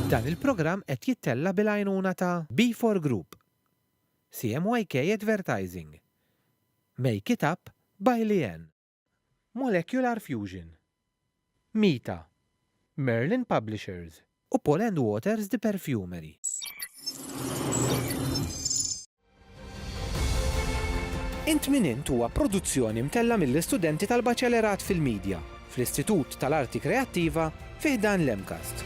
Dan il-programm qed jittella' bil-għajnuna ta' B4 Group, CMYK Advertising, Make It Up by Leanne, Molecular Fusion, Mita, Merlin Publishers, u Paul and Waters The Perfumery. Int Min Int huwa produzzjoni mtellgħa mill-istudenti tal-Baċelerat fil-Midja fl-Istitut tal-Arti Kreattiva fi ħdan l-MCAST.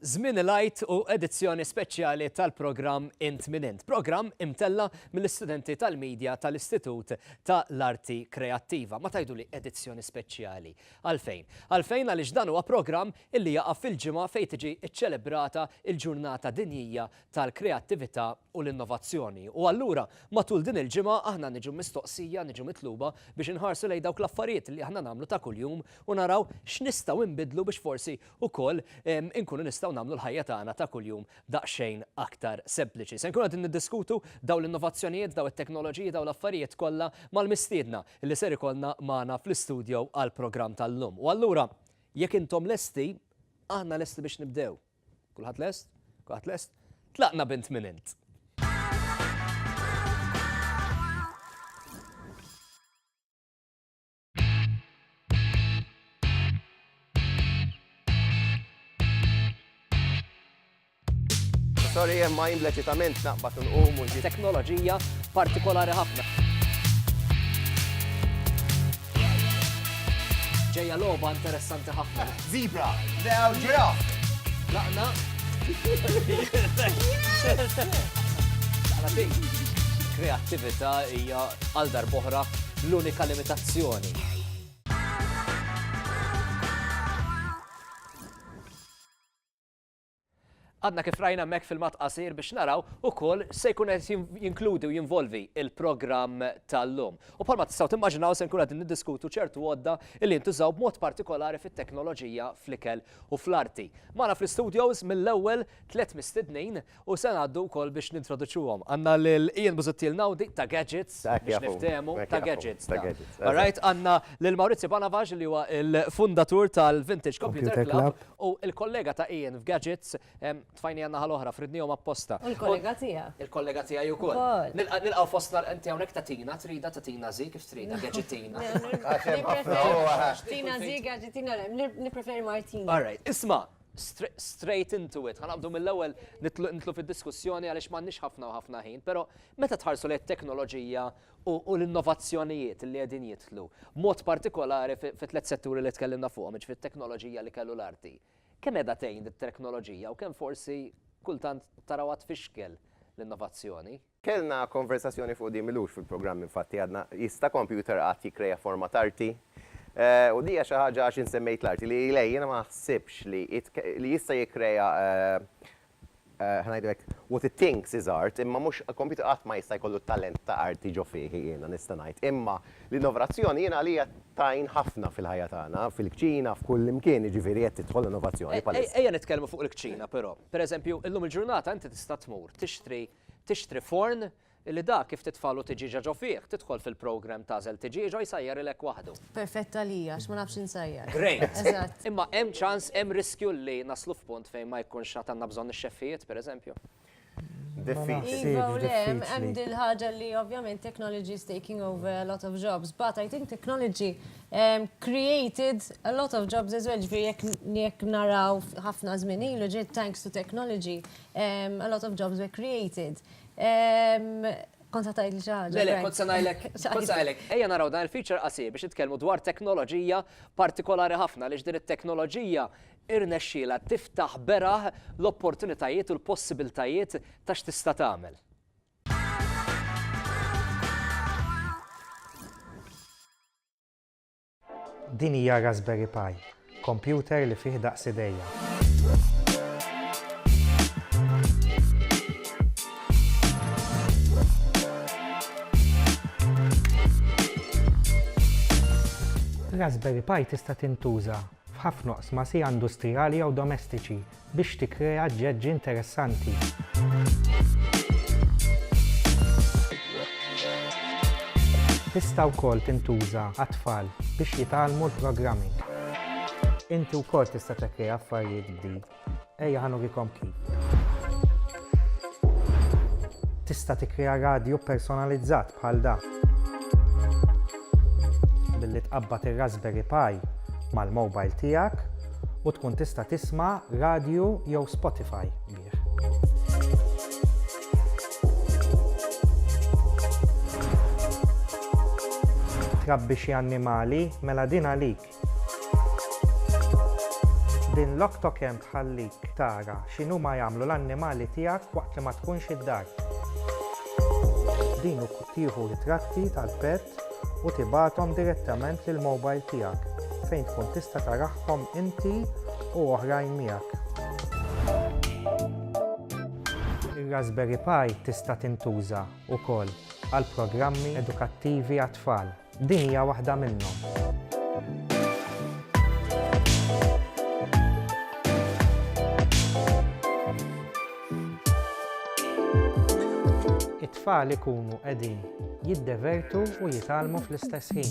Żmien il-Għid u edizzjoni speċjali tal-programm Int Min Int, programm imtella mill-istudenti tal-medja tal-Istitut ta' l-Arti Kreattiva. Ma tajdu li edizzjoni speċjali. Għalfejn? Għalfejn għaliex dan huwa programm illi jaqa' fil-ġimgħa fejn tiġi ċċelebrata il-ġurnata dinjija tal-kreattività u l-innovazzjoni. U allura, matul din il-ġimgħa aħna niġu mistoqsija, niġu mitluba biex inħarsu lejn dawk l-affarijiet li aħna nagħmlu ta' kuljum u naraw x'nistgħu nbiddlu biex forsi wkoll inkunu nistgħu nagħmlu l-ħajja tagħna ta' kuljum daqsxejn aktar sempliċi. Se nkunu qegħdin niddiskutu dawn l-innovazzjonijiet, dawn it-teknoloġiji, dawn l-affarijiet kollha mal-mistiedna li ser ikollna magħna fl-istudio għall-programm tal-lum. U allura, jekk intom lesti, aħna lesti biex nibdew. Kulħadd lest? Kulħadd lest? Tlaqna bint minn int. Sorry, hemm ma jimlet jitament naqbad nqum u Teknoloġija partikolari ħafna. Ġejja logħba interessanti ħafna. Zebra, lew ġiraf. Laqna. Kreattività hija għal darboħra l-unika limitazzjoni. Għadna kif rajna hemmhekk filmat qasir biex naraw ukoll se jkun qed jinkludi u jinvolvi il-programm tal-lum. U bħalma tistgħu timmaġinaw se nkun qed niddiskutu ċertu għodda li jintużaw b'mod partikolari fit-teknoloġija fl-ikel u fl-arti. Magħna fl-istudios mill-ewwel tliet mistednin u se ngħaddu wkoll biex nintroduċuhom. Għandna lil Ian Busuttil Nawdi ta' Gadgets biex niftehmu ta' Gadgets. Alright, għandna lil Maurizio Banavaġ li huwa l-fundatur tal-Vintage Computer Club U l-kollega ta' Ian f'Gadgets, tfajni għan-naħa l-oħra, fridnihom apposta. U l-kollega tiegħek. Il-kollega tiegħi wkoll. Nilqgħu fostna inti hawnhekk ta' Tina, trida ta' Tina Zi kif trida, Gadgetina. Tina Zi, Gadgetina, nippreferi Martina. All right, isma', straight into it, ħanabdu mill-ewwel nitlu fid-diskussjoni għaliex m'għandniex ħafna u ħafna ħin, però meta tħarsu lejn it-teknoloġija u l-innovazzjonijiet li qegħdin jidħlu, b'mod partikolari fit-tliet setturi li tkellimna fuqhom, jiġifieri t-teknoloġija, l-ikel u l-arti. Kemm qiegħda tgħin it-teknoloġija u kemm forsi kultant tarawha tfixkel l-innovazzjoni? Kellna konversazzjoni fuq din m'ilux fil-programm infatti, għadna, jista' kompjuter qatt jikkreja forma t'arti? U din hija xi ħaġa, għax insemmejt l-arti, li lejn jiena ma naħsibx li jista' jikkreja Ħa ngħidlek, what it thinks is art, imma mhux, computer qatt ma jista' jkollu talent ta' arti ġo fih, jiena nista' ngħid. Imma l-innovrzzjoni jiena għalija tgħin ħafna fil-ħajja tagħna, fil-kċina, f'kull imkien, jiġifieri qed tidħol l-innovazzjoni bħalissa. Ejja nitkellmu fuq il-kċina però. Pereżempju, illum il-ġurnata inti tista' tmur tixtri tixtri forn Illi dak kif titfagħlu tiġieġa ġo fih, tidħol fil-programm t'għażel tiġieġa u jsajjarilek waħdu. Perfett għalija għax ma nafx insajjar. Great! Eżatt. Imma hemm ċans, hemm riskju li naslu f'punt fejn ma jkunx għad għandna bżonn ix-xeffijiet, pereżempju? Diffiċli. Iva u le, hemm din l-ħaġa li ovvjament technology is taking over a lot of jobs, but I think technology created a lot of jobs as well, ġifieri jekk jekk naraw ħafna żmien ilu ġiet thanks to technology a lot of jobs were created. Kont se tgħidli xi ħaġa. Le, le, kont se ngħidlek, kont se ngħidlek, ejja naraw dan il-feature qasir biex nitkellmu dwar teknoloġija partikolari ħafna għaliex din it-teknoloġija irnexxielha tiftaħ beraħ l-opportunitajiet u l-possibiltajiet ta' x'tista' tagħmel. Din hija Raspberry Pi, kompjuter li fih daqs idejja. Raspberry Pi tista' tintuża f'ħafna oqsma sija industrijali jew domestiċi. biex tikkrea ġeġ interessanti. Tista' wkoll tintuża għat-tfal biex jitgħallmu l-programming. Inti wkoll tista' tekkrea affarijiet b'din. Ejja ħa nurikom kif. Tista' tikkrea radju personalizzat bħal dan. billi tqabbad ir-Raspberry Pi mal-mowbajl tiegħek u tkun tista' tisma' radju jew Spotify bih. Trabbi xi annimali? Mela din għalik! Din l-octocam tħallik tara x'inhuma jagħmlu l-annimali tiegħek waqt li ma tkunx id-dar. Din ukoll tieħu ritratti tal-pet u tibgħathom direttament lill-mobile tiegħek fejn tkun tista' tarahom inti u oħrajn miegħek. Ir-Raspberry Pi tista' tintuża wkoll għal programmi edukattivi għat-tfal. Din hija waħda minnhom. It-tfal ikunu qegħdin jiddevertu u jitgħallmu fl-istess ħin.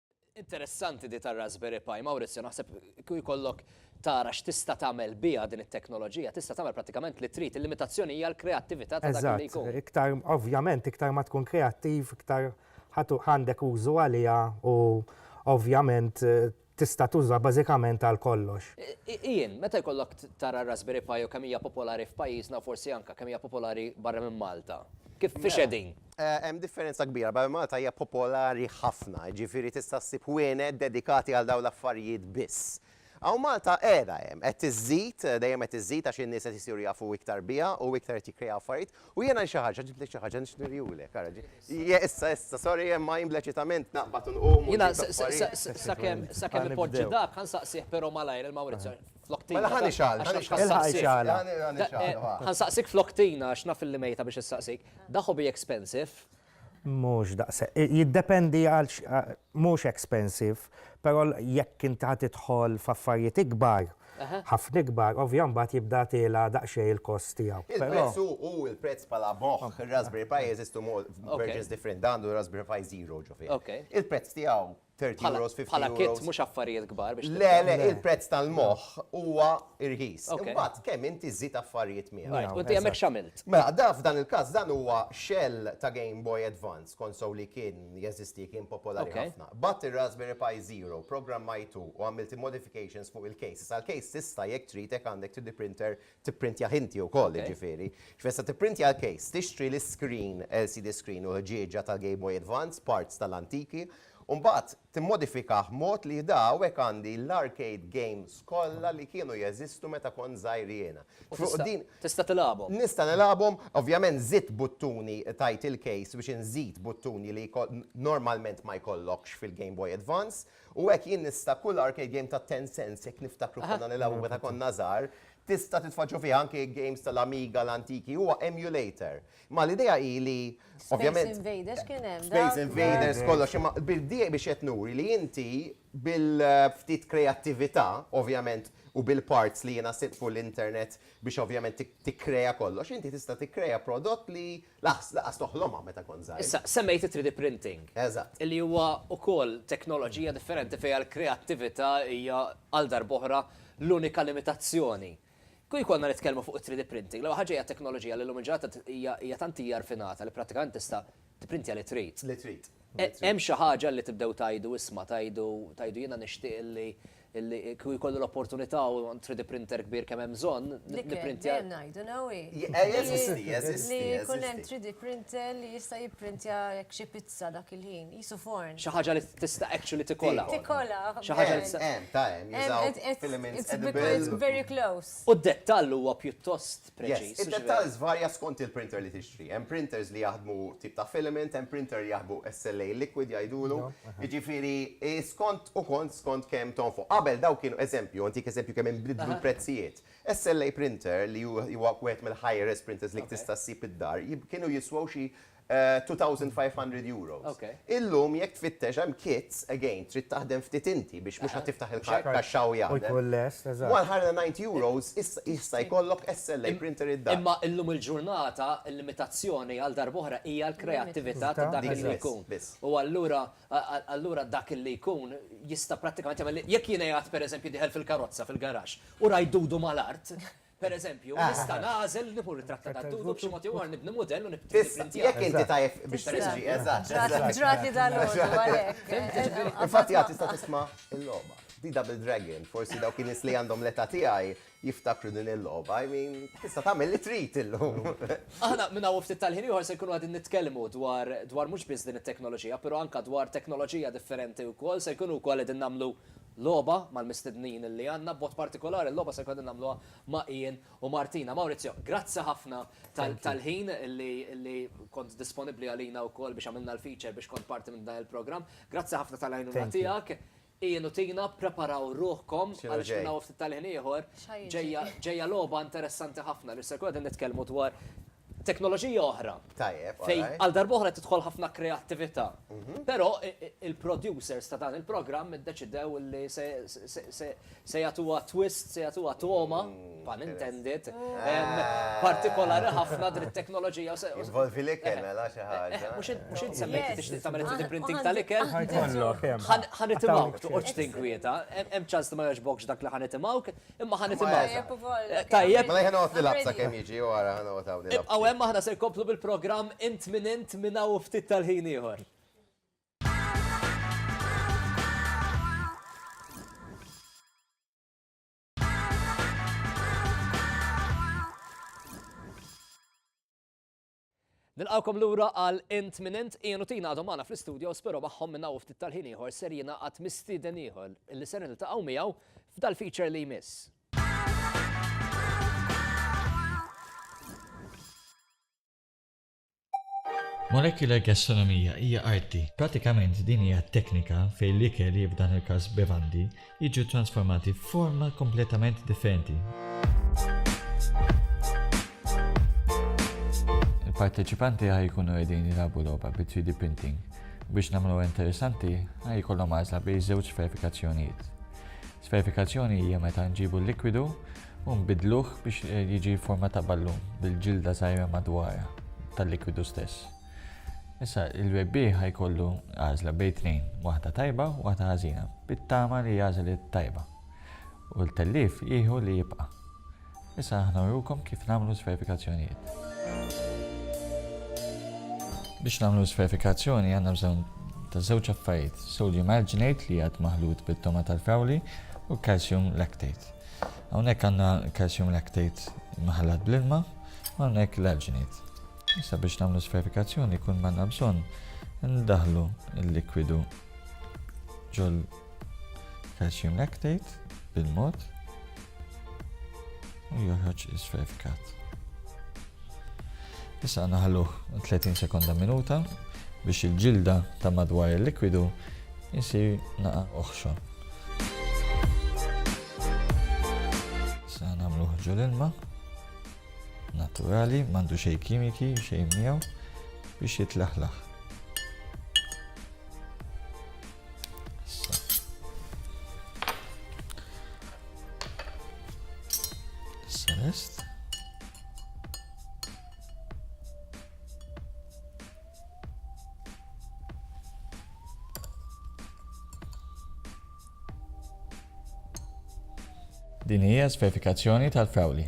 Interessanti di tar-Raspberry Pi, Maurizio, naħseb kieku jkollok tara x'tista' tagħmel biha din it-teknoloġija, tista' tagħmel prattikament li trid, il-limitazzjoni hija l-kreattività ta' dak li jkun. Eżatt, iktar, ovvjament, iktar ma tkun kreattiv, iktar ħa għandek użu għaliha u ovvjament tista' tuża bażikament għal kollox. Ian, meta jkollok tara r-Raspberry Pi u kemm hija popolari f'pajjiżna u forsi anke kemm hija popolari barra minn Malta, kif, fiex qegħdin? Hemm differenza kbira, Baby Malta hija popolari ħafna, jiġifieri tista' ssib ħwienet dedikati għal dawn l-affarijiet biss. Hawn Malta qiegħda hemm, qed iżżid, dejjem qed iżżid għax in-nies qed isiru jafu iktar biha u iktar qed jikkrejaw affarijiet u jiena xi ħaġa, ġibtlek xi ħaġa nixtieq nurihulek, ara ġi. Ija issa, issa, sorry imma jien bleċitament naqbad u nqum u. Jiena sakemm sakemm ipoġġi dak, ħa nsaqsih però malajr il-Mawrizio. Flok tina. Mela ħani xal, ħani xal. Il-ħaj xal. Ħan saqsik flok tina, għax naf li mejta biex saqsik. Da hobby expensive? Mux daqse. Jiddependi għal mux expensive, pero jekk inti ħat idħol f'affarijiet ikbar, ħafna ikbar, ovvjan bat jibda tela daqxej il-kost tijaw. Il-prezz u il-prezz pala moħ, il-Raspberry Pi jeżistu versions different, dandu Raspberry Pi Zero ġofi. Il-prezz tijaw 30 euros, 50 euros. Bħala kit mhux affarijiet kbar biex. Le, le, il-prezz tal-moħħ huwa irħis. Imbagħad kemm inti żżid affarijiet miegħu. U inti hemmhekk x'għamilt? Mela, da f'dan il-każ dan huwa shell ta' Game Boy Advance, konsol li kien jeżisti, kien popolari ħafna. Bgħatt ir-Raspberry Pi Zero, programmajtu u għamilt il-modifications fuq il-case. Issa l-case tista' jekk trid hekk għandek 3D printer tipprintjah inti wkoll jiġifieri. X'fisser se tipprintja l-case, tixtri l-iscreen, LCD screen u l-ħġieġa tal-Game Boy Advance, parts tal-antiki, u mbagħad timmodifikah b'mod li jda hawnhekk għandi l-arcade games kollha li kienu jeżistu meta kont żgħir jiena. U tista' tista' tilgħabhom. Nista' nilgħabhom, ovvjament żidt buttuni tajt il-case biex inżid buttuni li normalment ma jkollokx fil-Game Boy Advance, U hekk jien nista' kull arcade game ta' ten cents jekk niftakru konna nilgħabu meta konna żgħar, tista' titfaġġa fiha anke games tal-Amiga l-antiki, huwa emulator. Imma l-idea hi li ovvjament. Space Invaders kien hemm dak. Space Invaders kollox, imma bid-dieq biex qed nuri li inti bil-ftit kreattività, ovvjament, u bil-parts li jiena sibt fuq l-internet biex ovvjament tikkrea kollox, inti tista' tikkrea prodott li Laqqas, laqqas toħlomha meta kont żgħir. Issa, semmejt it-3D printing. Eżatt. Li huwa wkoll teknoloġija differenti fejn l-kreattività hija għal darb'oħra l-unika limitazzjoni. Kieku jkollna nitkellmu fuq it-3D printing, l-ewwel ħaġa hija teknoloġija li llum il-ġurnata hija tant hija rfinata li prattikament tista' tipprintja li trid. Li trid. Hemm xi ħaġa li tibdew tgħidu isma' tgħidu jiena nixtieq li Illi kieku jkolli l-opportunità u 3D printer kbir kemm hemm bżonn, nipprintja. Dejjem ngħidu, no way. Jeżisti, jeżisti. Li jkun hemm 3D printer li jista' jipprintja jekk xi pizza dak il-ħin, qisu forn. Xi ħaġa li tista' actually tikola. Tikola. Xi ħaġa li tista'. Hemm, hemm, ta' hemm, jużaw filaments edibbli. It's very close. U d-dettall huwa pjuttost preċiż. Id-dettall żvarja skont il-printer li tixtri. Hemm printers li jaħdmu tip ta' filament, hemm printer li jaħdmu SLA liquid jgħidulu. Jiġifieri skont ukoll skont kemm tonfoq. Qabel dawk kienu, eżempju, ntik eżempju kemm inbidlu l-prezzijiet. SLA printer li huwa wieħed mill-high res printers li tista' ssib id-dar, kienu jiswew xi €2,500. Illum jekk tfittex hemm kits, again, trid taħdem ftit inti biex mhux ħa tiftaħ il-kaxxa u jgħadem. U jkun lest, eżatt. €190 issa issa jkollok SLA printer id-dar. Imma illum il-ġurnata l-limitazzjoni għal darba oħra hija l-kreattività ta' dak li jkun. Biss. U allura allura dak li jkun jista' prattikament jagħmel jekk jiena qiegħed pereżempju dieħel fil-karozza fil-garaxx u rajt dudu mal-art, Per eżempju, nista' nagħżel li nieħu ritratt ta' Dadu b'xi mod jew ieħor nibni mudell u nipprintjah. Jekk inti tajjeb biex tistri, eżatt. Ġrat li dan hu għalhekk. Infatti għad tista' tisma' l-logħba. Di Double Dragon, forsi dawk in-nies li għandhom l-età tiegħi jiftakru din il-logħba. I mean, tista' tagħmel li trid illum. Aħna minn hawn u ftit tal-ħin ieħor se nkunu qegħdin nitkellmu dwar dwar mhux biss din it-teknoloġija, però anke dwar teknoloġija differenti wkoll se jkunu wkoll qegħdin nagħmlu logħba mal-mistednin li għandna, b'mod partikolari l-logħba se jkun qegħdin nagħmluha ma' Ian u Martina. Maurizio, grazzi ħafna tal-ħin li kont disponibbli għalina wkoll biex għamilna l-feature biex kont parti minn dan il-programm. Grazzi ħafna tal-għajnuna tiegħek. Ian u Tina, ppreparaw ruħkom għaliex minn hawn u ftit tal-ħin ieħor ġejja logħba interessanti ħafna li se nkunu qegħdin nitkellmu dwar teknoloġija oħra. Tajjeb, all right. Għal darba oħra tidħol ħafna kreattività. Però il-producers ta' dan il-programm iddeċidew li se jagħtuha twist, se jagħtuha togħma, pun intended, partikolari ħafna din it-teknoloġija. Involvi l-ikel, mela xi ħaġa. Mhux int semmejt tixtieq tagħmel 3D printing tal-ikel? Ħa jkollok, hemm. Ħa nitimgħu, toqgħodx tinkwieta. Hemm ċans li ma jogħġbokx dak li ħa nitimgħu. Imma ħa nisimgħu. Tajjeb ukoll. Tajjeb. Mela ħa noqgħod nilgħab sakemm jiġi u ara ħa noqgħod hawn nilgħab. Ibqgħu hemm aħna se nkomplu bil-programm int min int minn hawn u ftit tal-ħin ieħor. Nilqgħukom lura għal Int Min Int, Ian u Tina għadhom magħna fl-istudios però magħhom minn hawn u ftit tal-ħin ieħor ser jingħaqad mistieden ieħor li ser niltaqgħu miegħu f'dal-feature li jmiss. Molecular gastronomija hija arti. Pratikament din hija teknika fejn l-ikel, f'dan il-każ bevandi, jiġu ttransformati f'forma kompletament differenti. Il-parteċipanti ħaj jkunu qegħdin jilagħbu logħba bi 3D printing. Biex nagħmlu interessanti, ħaj jkollhom għażla bejn żewġ verifikazzjonijiet. Sverifikazzjoni hija meta nġibu l-likwidu u nbidluh biex eh, jiġi forma ta' ballun bil-ġilda żgħira madwar tal-likwidu stess. Issa, il-bebbieħ ħa jkollu għażla bejn tnejn, waħda tajba u waħda ħażina, bit-tama li jagħżel it-tajba, u l-tellief jieħu li jibqa'. Issa aħna nurukom kif nagħmlu l-sverifikazzjonijiet. Biex nagħmlu l-sverifikazzjoni għandna bżonn ta' żewġ affarijiet, sodium alginate li jgħad maħlut bit-tama tal-frawli u calcium lactate. Hawnhekk għandna calcium lactate maħallat bl-ilma u hawnhekk l-alginate. Issa biex nagħmlu sferifikazzjoni jkun manna bżonn ndaħlu l-likwidu ġol calcium lactate bil-mod u joħroġ isferifikat. Issa naħluh 30 sekonda minuta biex il-ġilda ta' madwar il-likwidu jisir naqa oħxo. Issa nagħmluh ġol ilma Naturali, m'għandu xejn kimiki, xejn miegħu biex jitlaħlaħ. Din hija s-verifikazzjoni tal-frawli.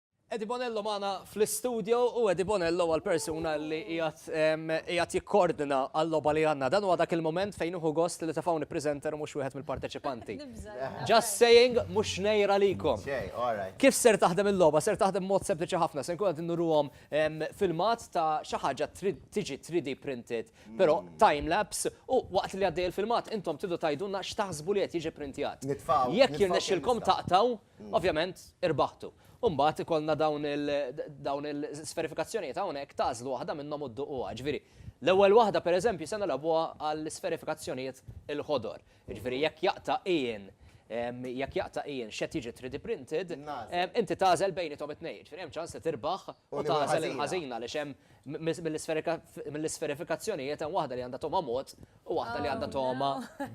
Eddie Bonello magħna fl-istudio u Eddie Bonello huwa l-persuna li qiegħed qiegħed jikkordina għal-logħba li għandna. Dan huwa dak il-mument fejn nieħu gost li tefgħuni presenter u mhux wieħed mill-parteċipanti. Just saying, mhux xnejr għalikom. Kif ser taħdem il-logħba? Ser taħdem b'mod sempliċi ħafna. Se nkun qed innuruhom filmat ta' xi ħaġa trid tiġi 3D printed, però time lapse u waqt li għaddej il-filmat intom tridu tgħidulna x'taħsbu li qed jiġi printjat. Jekk jirnexxilkom taqtgħu, Ovvjament, irbaħtu. U mbagħad ikollna dawn il- dawn il-sferifikazzjonijiet hawnhekk tagħżlu waħda minnhom u dduquha. Ġifieri, l-ewwel waħda pereżempju se nilgħabuha għall-isferifikazzjonijiet il-ħodor. Jiġifieri jekk jaqta' Ian, em, jekk jaqta' Ian x'qed jiġi 3D printed, em, inti tagħżel bejniethom it-tnejn. Ġifieri hemm ċans li tirbaħ u tagħżel il-ħażina għaliex hemm mi- mill-isferika- mill-isferifikazzjonijiet hemm waħda li għandha togħma mod U waħda li għandha toma.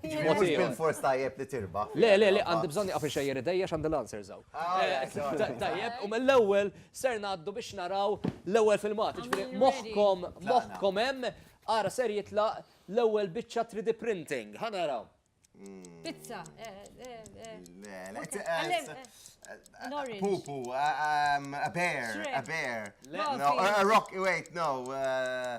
Mhux bil-fors tajjeb li tirba. Le, le, le, għandi bżonn nieqaf inxejjer idejja x'għandi l-answer żaw. Ah, eh, tajjeb, u mill-ewwel ser ngħaddu biex naraw l-ewwel filmat. Ġifieri moħħkom, moħħkom hemm, ara ser jitlaq l-ewwel biċċa 3D printing. Ħa naraw. Hmm. Pizza. Eh, eh, le, le, an orange. Poo poo. Uh, um, a bear. Shrimp. A bear. No, a rock. Wait, no. Uh,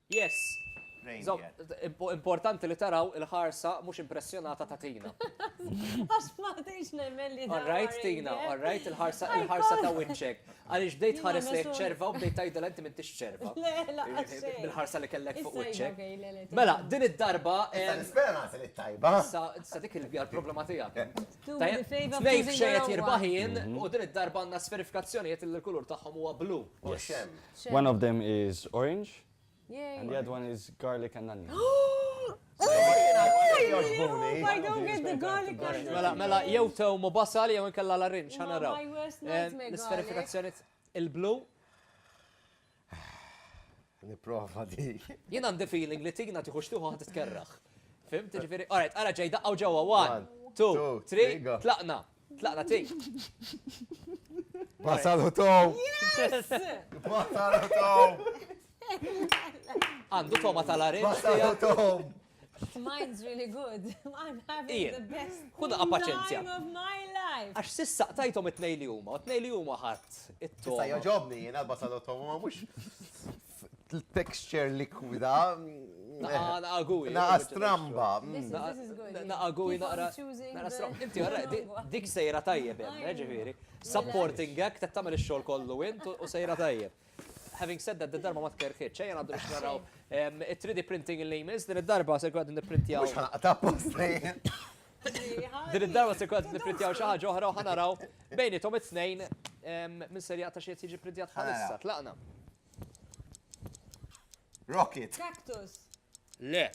Yes! Importanti li taraw il-ħarsa mhux impressjonata ta' Tina. Għax ma tgħidx nemmen li. All right Tina, all right, il-ħarsa ta' wiċċek. Għaliex bdejt tħares lejn iċ-ċerva u bdejt tgħidilha inti m'intix ċerva. Le, lanqas xejn. Bil-ħarsa li kellek fuq wiċċek. Mela, din id-darba. Nispera nagħti lit-tajba. Sa dik hija l-problema tiegħek. Tnejn xejn qed jirbaħ jien u din id-darba għandna sferifikazzjonijiet li l-kulur tagħhom huwa blu. One of them is orange and the other one is garlic and onion. Mela, mela, jew tew mu basal jew inkella la rinċ, ħana raw. L-isferifikazzjoni il-blu. Niprofa di. Jien għandi feeling li tigna tiħux tiħu għad tkerraħ. Fim, tiġifiri, alright, għara ġej daqqa u ġewa, one, two, three, tlaqna. Tlaqna tejn. Wasal u tow! Wasal u tow! Għandu toma tal-arin. Wasal u tow! Mine's really good. I'm having the best Kuna paċenzja. time of my life. Għax sissa qtajtom it-tnej li huma, u t-tnej li huma ħadd it-tom. Issa joġobni jiena basal u tom, ma mhux Texture likwida. Naqa gui. Naqa stramba. Naqa gui naqra. Naqa stramba. Inti għarra, dik sejra tajjeb jem, eh, ġifiri. Supporting gag, ta' tamel il-xol kollu int u sejra tajjeb. Having said that, d-darba ma tkerħiċ, ċajja għaddu biex naraw il-3D printing il-name is, din id-darba se għaddu niprintjaw. Mux ħanaqta post Din id-darba se jkun nipprintjaw xi ħaġa oħra u ħanaraw bejnietom it-tnejn minn serja ta' xi qed jiġi printjat bħalissa. Tlaqna. Rocket. Cactus. Le.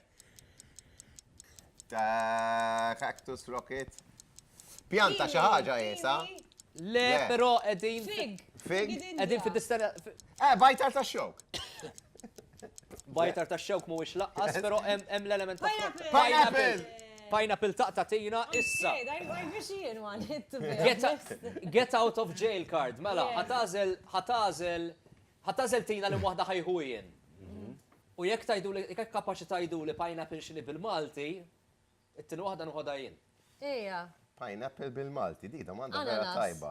Ta' cactus rocket. Pjanta xi ħaġa jesa. Le, però qegħdin. Fig. Fig. Qegħdin fid-distanza. Eh, vital ta' xok. Bajtar ta' xewk mhuwiex laqqas, però hemm l-element ta' pineapple. Pineapple taqta' tina issa. Get out of jail card, mela, ħatażel, ħatażel, ħatażel tina li waħda ħajħu jien. U jekk tajdu li, jekk kapaċi tajdu li pineapple x'inhi bil-Malti, it-tieni waħda nħodha jien. Ejja. Pineapple bil-Malti, dik domanda vera tajba.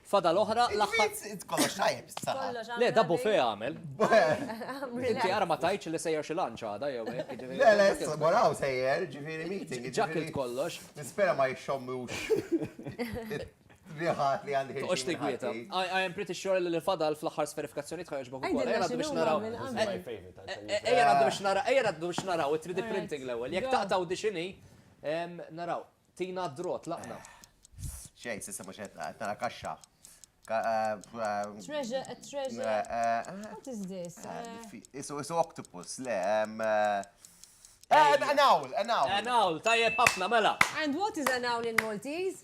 Fadal oħra l-aħħar. Int kollox tajjeb issa. Le, da bufè għamel. Inti ara ma tajtx li sejjer xi lunch għada jew hekk. Le, le, issa wara hawn sejjer, ġifieri meeting. Ġa kilt kollox. Nispera ma jixxommux riħat li għandi ħin. Toqgħodx tigwieta. I am pretty sure li l-fadal fl-aħħar sferifikazzjonijiet ħa jogħġbok ukoll. Ejja ngħaddu biex naraw. Ejja ngħaddu biex naraw it-3D printing l-ewwel. Jekk taqtgħu dixini, naraw. Tina d-draw, tlaqna. Xejn, s'issa mhux qed nara, qed nara kaxxa. Treasure, a treasure. What is this? Isu, isu octopus, le, An owl, an owl. An owl, tajjeb ħafna, mela. And what is an owl in Maltese?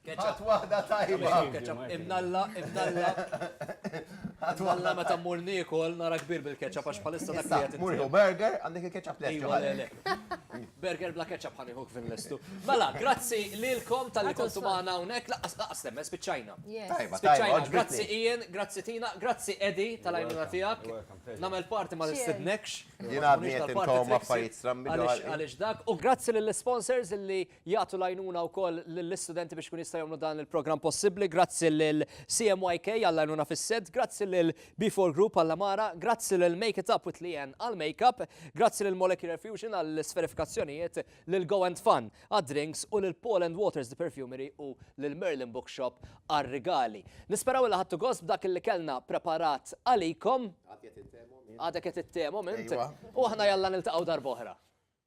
Ketchup. Ħadd waħda tajba. Ketchup imnalla, imnalla. Imnalla meta mmur niekol nara kbir bil-ketchup għax bħalissa dak li qed. Mur jew burger għandek il-ketchup lest. Iva, le, le. Burger bla ketchup ħani hook fin lestu. Mela, grazzi lilkom tal-li kontu magħna hawnhekk laqas laqas temmes spiċċajna. Tajba, tajba. Grazzi Ian, grazzi Tina, grazzi Edi tal-għajnuna tiegħek. Nagħmel parti ma nistednekx. Jien għadni qed inkom affarijiet strambi. Għaliex dak u grazzi lill-sponsors li jagħtu l-għajnuna wkoll lill-istudenti biex kun jistgħu jagħmlu dan il-programm possibbli. Grazzi lil CMYK għall-għajnuna fis-set, grazzi lil B4 Group għall-amara, grazzi lil Make It Up with Lien għall-makeup, grazzi lil Molecular Fusion għall-sferifikazzjonijiet, lil Go and Fun għad-drinks u lil Paul and Waters the Perfumery u lil Merlin Bookshop għar-rigali. Nisperaw li ħadtu gost b'dak li kellna preparat għalikom. Għadek qed it-temo, mint. U aħna jalla niltaqgħu darboħra.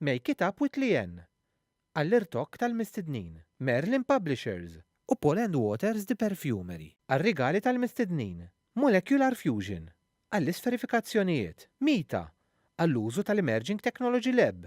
Make It Up With Leanne għall-irtokk tal-mistednin. Merlin Publishers u Paul and Waters The Perfumery għar-rigali tal-mistednin. Molecular Fusion għall-isferifikazzjonijiet. Mita għall-użu tal-Emerging Technology Lab.